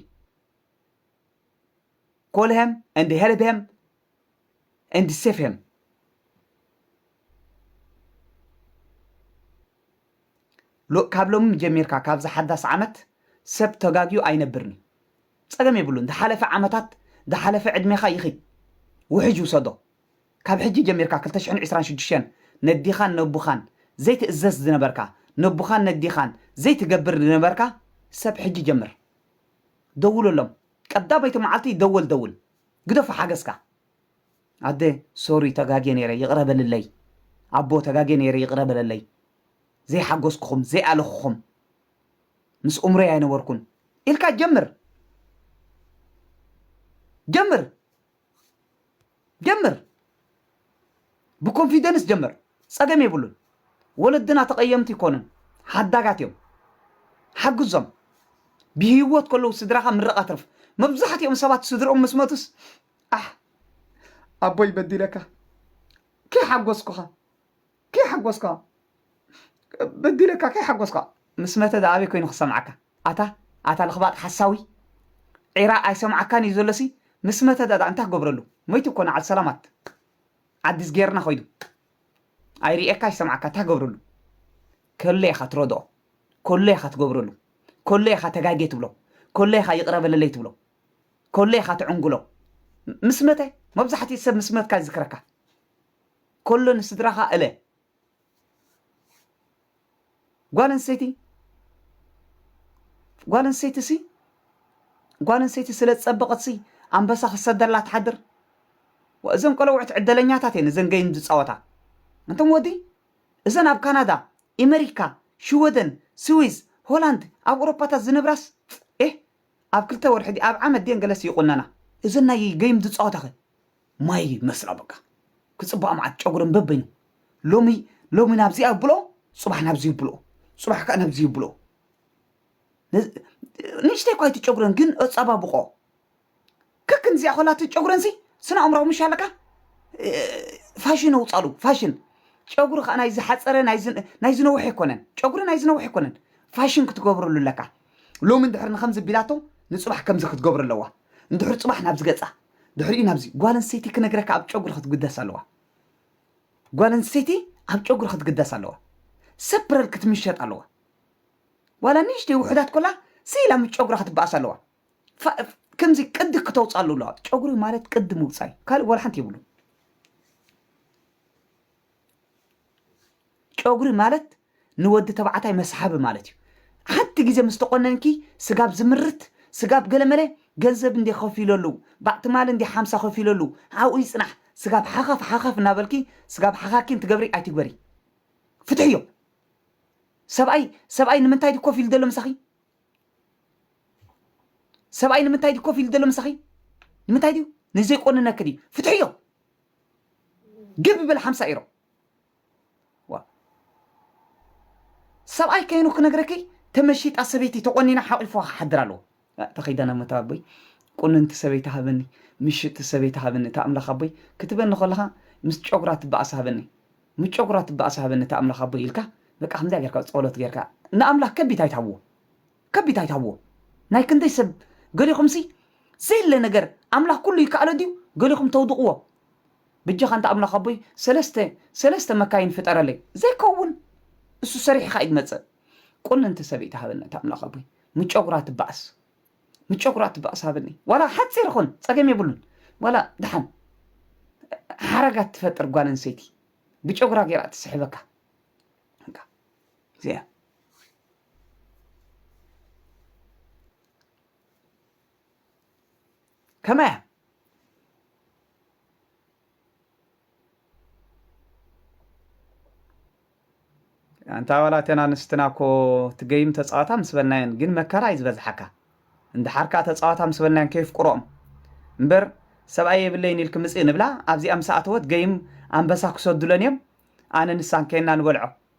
ኮል ሄም ኤንድ ሄልፕ ሄም and save him ካብ ሎሚ ጀሚርካ ካብዚ ሓዳስ ዓመት ሰብ ተጋግዩ ኣይነብርን እዩ ፀገም የብሉን ዝሓለፈ ዓመታት ዝሓለፈ ዕድሜኻ ይኺድ ውሕጅ ውሰዶ ካብ ሕጂ ጀሚርካ 226 ነዲኻን ነቡኻን ዘይትእዘዝ ዝነበርካ ነቡኻን ነዲኻን ዘይትገብር ዝነበርካ ሰብ ሕጂ ጀምር ደውለሎም ቀዳመይቲ መዓልቲ ደወል ደውል ግደፎ ሓገዝካ። ኣደ ሶሪ ተጋግየ ነይረ ይቅረ በልለይ ኣቦ ተጋግየ ነይረ ይቅረ በለለይ ዘይሓጎስኩኹም ዘይኣለኹኹም ምስ ኡምረይ ኣይነበርኩን ኢልካ ጀምር ጀምር ጀምር ብኮንፊደንስ ጀምር ጸገም የብሉን ወለድና ተቀየምቲ ኣይኮኑን ሓዳጋት እዮም ሓግዞም ብሂወት ከለዉ ስድራኻ ምርቕ ኣትርፍ መብዛሕትኦም ሰባት ስድርኦም ምስ መቱስ ኣሕ ኣቦይ በዲለካ ከይሓጎስኩኻ ከይሓጎስካ በዲለካ ከይሓጎስካ ምስ መተ ደኣ ኣበይ ኮይኑ ክሰምዓካ ኣታ ኣታ ለኽባጥ ሓሳዊ ዒራ ኣይሰምዓካን ኢዩ ዘሎ ሲ ምስ መተ ዳኣ እንታይ ክገብረሉ መይቱ እኮ ንዓል ሰላማት ኣዲስ ጌርና ከይዱ ኣይርእየካ ኣይሰምዓካ እንታይ ክገብረሉ ከሎ ኢኻ ትረድኦ ከሎ ኢኻ ትገብረሉ ከሎ ኢኻ ተጋጌ ትብሎ ከሎ ኢኻ ይቕረ በለለይ ትብሎ ከሎ ኢኻ ትዕንግሎ ምስ መተ መብዛሕትኡ ሰብ ምስ መትካ ይዝክረካ ከሎ ንስድራኻ እለ ጓል ኣንስተይቲ ጓል ኣንስተይቲ ሲ ጓል ኣንስተይቲ ስለ ዝፀበቐት ሲ ኣንበሳ ክሰደላ ትሓድር እዘን ቆለውዕት ዕደለኛታት እየን እዘን ገይም ዝፃወታ እንቶም ወዲ እዘን ኣብ ካናዳ ኤመሪካ ሽወደን ስዊዝ ሆላንድ ኣብ ኤውሮፓታት ዝነብራስ ኤህ ኣብ ክልተ ወርሒ ድየ ኣብ ዓመት ድየን ገለሲ ይቑነና እዘን ናይ ገይም ዝፃወታ ኸ ማይ ይመስላ በቃ ክጽባኣ መዓት ጨጉረን በበይኑ ሎሚ ሎሚ ናብዚ ኣብሎ ጽባሕ ናብዚ ይብሎ ጽባሕ ከዓ ናብዚ ይብሎ ንእሽተይ እኳ እቲ ጨጉረን ግን ኣጸባብቆ ከክን እዚኣ ኮላ እቲ ጨጉረን ሲ ስነ ኣእምራዊ ምሽ ኣለካ እ፣ ፋሽን ኣውጻሉ ፋሽን ጨጉሪ ከዓ ናይ ዝሓፀረ ናይ ዝ- ናይ ዝነውሐ ኣይኮነን ጨጉሪ ናይ ዝነውሐ ኣይኮነን ፋሽን ክትገብረሉ ኣለካ ሎሚ እንድሕር ንከምዚ ቢላቶ ንጽባሕ ከምዚ ክትገብረ ኣለዋ ንድሑር ጽባሕ ናብዚ ገጻ ድሕሪኡ ናብዚ ጓል ኣንስተይቲ ክነግረካ ኣብ ጨጉሪ ክትግደስ ኣለዋ ጓል ኣንስተይቲ ኣብ ጨጉሪ ክትግደስ ኣለዋ ሰፕረል ክትምሸጥ ኣለዋ ዋላ ንእሽተይ ውሑዳት ኮላ ስኢላ ምስ ጨጉራ ክትበኣስ ኣለዋ ከምዚ ቅዲ ክተውፅኣሉ ኣለዋ ጨጉሪ ማለት ቅዲ ምውፃእ እዩ ካልእ ዋላ ሓንቲ የብሉን ጨጉሪ ማለት ንወዲ ተባዕታይ መስሓቢ ማለት እዩ። ሓንቲ ግዜ ምስ ተቆነንኪ ስጋብ ዝምርት ስጋብ ገለመለ ገንዘብ እንዴ ከፊለሉ ባዕ ትማሊ እንዴ ሓምሳ ከፊለሉ ኣብኡ ይጽናሕ ስጋብ ሓኻፍ ሓኻፍ እናበልኪ ስጋብ ሓኻኪን ትገብሪ ኣይትግበሪ ፍትሕዮ ሰብኣይ ሰብኣይ ንምንታይ ድዩ ኮፍ ኢሉ ዘሎ ምሳኺ ሰብኣይ ንምንታይ ድዩ ኮፍ ኢሉ ዘሎ ምሳኺ ንምንታይ ድዩ ንዘይቆንነኪ ድዩ ፍትሕዮ ግብ በል ሓምሳ ኢሮ ዋእ ሰብኣይ ከይኑ ክነግረኪ ተመሺጣ ሰበይቲ ተቆኒና ሓቂፉዋ ክሓድር ኣለዎ ኣእ ተኸይዳ ናብ መታዊ ኣቦይ ቁንንቲ ሰበይቲ ሃበኒ ምሽጥቲ ሰበይቲ ሃበኒ እታ ኣምላኽ ኣቦይ ክትበኒ ከለኻ ምስ ጨጉራ ትበኣስ ሃበኒ ምስ ጨጉራ ትበኣስ ሃበኒ እታ ኣምላኽ ኣቦይ ኢልካ በቃ ከምዚኣ ጌርካ ጸሎት ጌርካ ንኣምላኽ ከቢድ ኣይትሃብዎ ከቢድ ኣይትሃብዎ ናይ ክንደይ ሰብ ገሊኹምሲ ዘየለ ነገር ኣምላኽ ኩሉ ይከኣሎ ድዩ ገሊኹም ተውድቕዎ በጃኻ እንተ ኣምላኽ ኣቦይ ሰለስተ ሰለስተ መካይን ፍጠረለይ ዘይከውን እሱ ሰሪሕኻ እዩ ዝመጽእ ቁንንቲ ሰበይቲ ሃበኒ እቲ ኣምላኽ ኣቦይ ምጨጉራ ትባእስ ምጨጉራ ትባእስ ሃበኒ ዋላ ሓጺር ይኹን ጸገም የብሉን ዋላ ድሓን ሓረጋት ትፈጥር ጓል ኣንሰይቲ ብጨጉራ ገይራ ትስሕበካ እዚኣ ከመይ እያ ኣንታ ዋላ እተን ኣንስትና እኮ ትገይም ተፃወታ ምስ በልናየን ግን መከራ እዩ ዝበዝሓካ እንድሓር ከዓ ተፃወታ ምስ በልናየን ከየፍቅሮኦም እምበር ሰብኣይ የብለይን ኢልክ ምፅእ ንብላ ኣብዚኣ ምስ ኣተወት ገይም ኣንበሳ ክሰዱለን እዮም ኣነ ንሳን ከይና ንበልዖ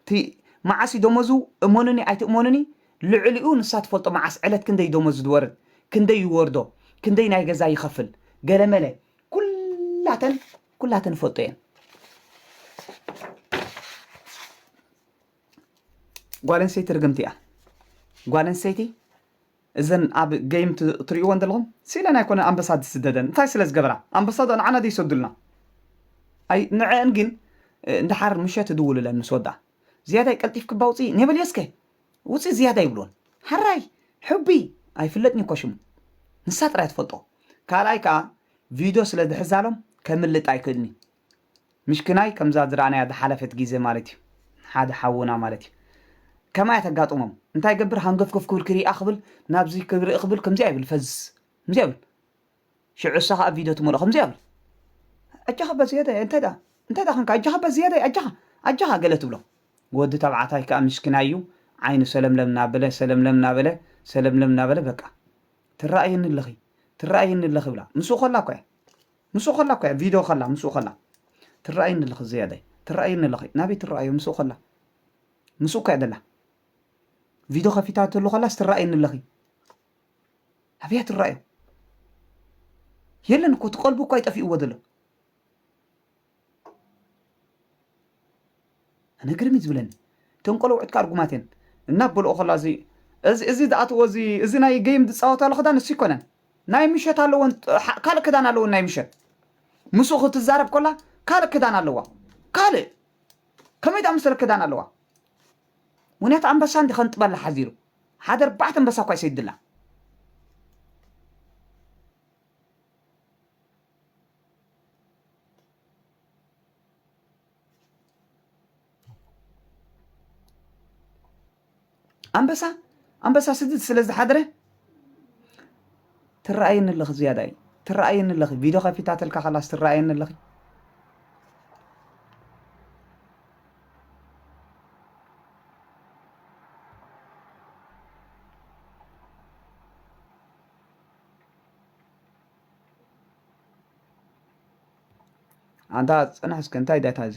እቲ መዓስ እዩ ደሞዙ እመኑኒ ኣይትእመኑኒ ልዕሊኡ ንሳ ትፈልጦ መዓስ ዕለት ክንደይ ደሞዙ ዝወርድ ክንደይ ይወርዶ ክንደይ ናይ ገዛ ይኸፍል ገለመለ ኩላተን ኩላተን ይፈልጦ እየን ጓል ኣንስተይቲ ርግምቲ እያ ጓል ኣንስተይቲ እዘን ኣብ ገይም ትሪእወን ዘለኹም ሲኢለን ኣይኮነን ኣንበሳ ዝስደደን እንታይ ስለ ዝገበራ ኣንበሳ ዶ ንዓና ዶ ይሰዱልና ኣይ ንዐኣን ግን ንደሓር ምሸት ይድውሉለን ምስ ወዳ ዝያዳይ ቀልጢፍኪ እባ ውፅኢ ኔበልዮ እስከ ውፅኢ ዝያዳ ይብልወን ሐራይ ሑቢ ኣይፍለጥን እኮ ሽሙ ንሳ ጥራይ ትፈልጦ ካልኣይ ከዓ ቪድዮ ስለ ዝሕዛሎም ከምልጥ ኣይክእልን እዩ ምሽክናይ ከምዛ ዝረኣናያ ዝሓለፈት ጊዘ ማለት እዩ ሓደ ሓውና ማለት እዩ ከምኣ እያ ተጋጥሞም እንታይ ይገብር ሃንገፍገፍ ክብል ክሪኣ ክብል ናብዚ ክርኢ ክብል ከምዚኣ ይብል ፈዝ ከምዚኣ ይብል ሽዑ እሳ ከዓ ቪድዮ ትመልኦ ከምዚኣ ይብል ኣጃኻ በዝየደ እንታይ ደኣ እንታይ ደኣ ክንካ ኣጃኻ በዝየደ ኣጃኻ ኣጃኻ ገለ ትብሎ ወዲ ተባዕታይ ከዓ ምስኪናይ እዩ ዓይኑ ሰለምለም እናበለ ሰለምለም እናበለ ሰለምለም እናበለ በቃ ትረኣየኒ ኣለኺ ትረኣየኒ ኣለኺ ይብላ ምስኡ ከላ እኮ እያ ምስኡ ከላ እኮ እያ ቪድዮ ከላ ምስኡ ከላ ትረኣየኒ ኣለኺ ዘያዳይ ትረኣየኒ ኣለኺ ናበይ ትረኣዮ ምስኡ ከላ ምስኡ እኮ እያ ዘላ ቪድዮ ከፊታትሉ ከላስ ትረኣየኒ ኣለኺ ኣበያ ትረኣዮ የለን እኮ እቲ ቀልቡ እኳ ይጠፊእዎ ዘሎ ኣነ ግርም እዩ ዝብለኒ እተን ቆለውዕት ከኣ ርጉማት እየን እናበልኦ ከሎ ኣዚ እዚ እዚ ዝኣትዎ እዚ እዚ ናይ ገይም ዝጻወታሉ ክዳን እሱ ኣይኮነን ናይ ምሸት ኣለወን ካልእ ክዳን ኣለወን ናይ ምሸት ምስኡ ክትዛረብ ኮላ ካልእ ክዳን ኣለዋ ካልእ ከመይ ዝኣመሰለ ክዳን ኣለዋ ምክንያቱ ኣንበሳ እንዲ ከንጥበላ ሓዚሩ ሓደ ኣርባዕተ ኣንበሳ እኳ ይሰይድላ ኣንበሳ ኣንበሳ ስዲ ስለ ዝሓድረ ትረኣየኒ ኣለኺ ዝያዳ እዩ ትረኣየኒ ኣለኺ ቪድዮ ከፊታተልካ ከላስ ትረኣየኒ ኣለኺ ኣንታ ጽናሕ እስከ እንታይ ዳታ እዚ